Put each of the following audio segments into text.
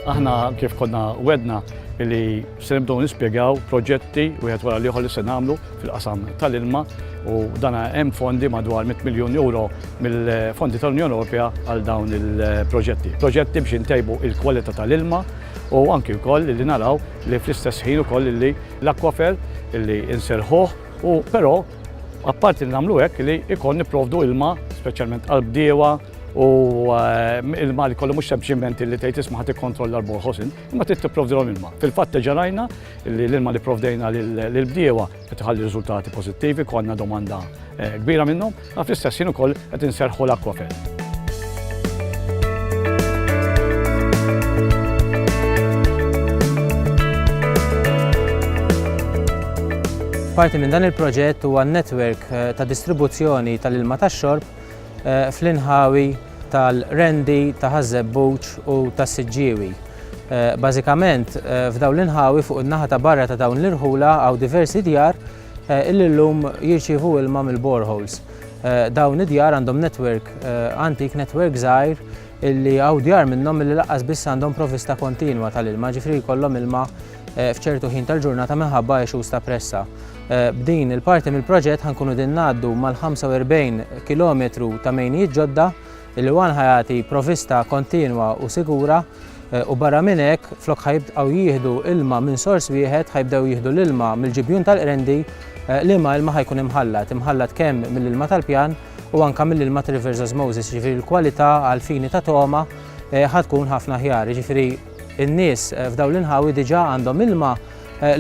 aħna kif konna wedna li se nibdew nispjegaw proġetti u għet wara liħor li se nagħmlu fil-qasam tal-ilma u dana hemm fondi madwar 100 miljun euro mill-fondi tal-Unjoni Ewropea għal dawn il-proġetti. Proġetti biex intejbu il-kwalità tal-ilma u anki wkoll illi naraw li fl-istess ħin ukoll illi l-akwafer illi inserħuh u però apparti li nagħmlu hekk li jkun nipprovdu ilma speċjalment għal bdiewa u eh, ilma li kollu mhux sempliċement illi tgħid isma' ħadd ikkontrolla l-borħosin, imma trid tipprovdilhom ilma. Fil-fatt ġarajna li l-ilma li provdejna lill-bdiewa qed iħalli riżultati pożittivi, konna domanda kbira minnhom, għaf l-istess jien ukoll qed inserħu l-Aquafed. Parti minn dan il-proġett huwa netwerk eh, ta' distribuzzjoni tal-ilma tax-xorb eh, fl-inħawi tal-Rendi, ta' Ħażebbuċ u tas-Siġġiewi. Bażikament, f'dawn l-inħawi fuq in-naħa ta' barra ta' dawn l-irħula hawn diversi djar illi llum jirċievu ilma mill-boreholes. Dawn id-djar għandhom netwerk antik, netwerk żgħir illi hawn djar minnhom illi laqqas biss għandhom provvista kontinwa tal-ilma, ġifieri jkollhom ilma f'ċertu ħin tal-ġurnata minħabba issues ta' pressa. B'din il-parti mill-proġett ħa nkunu qegħdin ngħaddu mal-45 kilometru ta' mejnijiet ġodda Il-Iwan ħa jagħti provvista kontinwa u sigura u barra minn hekk flok ħa jibqgħu jieħdu ilma minn sors wieħed ħa jibdew jieħdu l-ilma mill-ġibjun tal-Qrendi liema ilma ħa jkun imħallat, imħallat kemm mill-ilma tal-pjan u anke mill-ilma ta' Rivers Osmosis, jiġifieri l-kwalità għal fini ta' togħma ħa tkun ħafna aħjar, jiġifieri n-nies f'dawn l-inħawi diġà għandhom ilma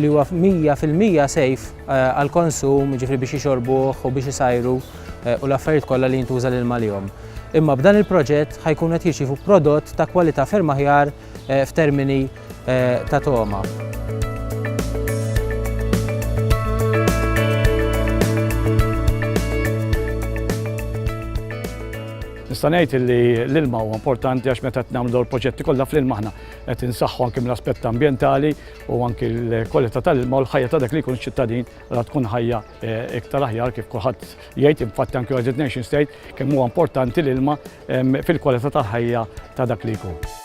li huwa 100 fil-mija sejf għall-konsum, jiġifieri biex jixorbuh u biex isajru u l-affarijiet kollha li jintuża l-ilma għalihom. Imma b'dan il-proġett ħajkunu qed jirċievu prodott ta' kwalità ferm aħjar f'termini ta' togħma. Nista' ngħid li l-ilma huwa importanti għax meta qed nagħmlu dawn il-proġetti kollha fl-ilma aħna qed insaħħu anke mill-aspett ambjentali, u anki l-kwalità tal-ilma u l-ħajja ta' dak li jkun ċittadin ra tkun ħajja eh, iktar aħjar kif kulħadd jgħid infatti anki United Nation State kemm huwa importanti l-ilma fil-kwalità tal-ħajja ta' dak li jkun.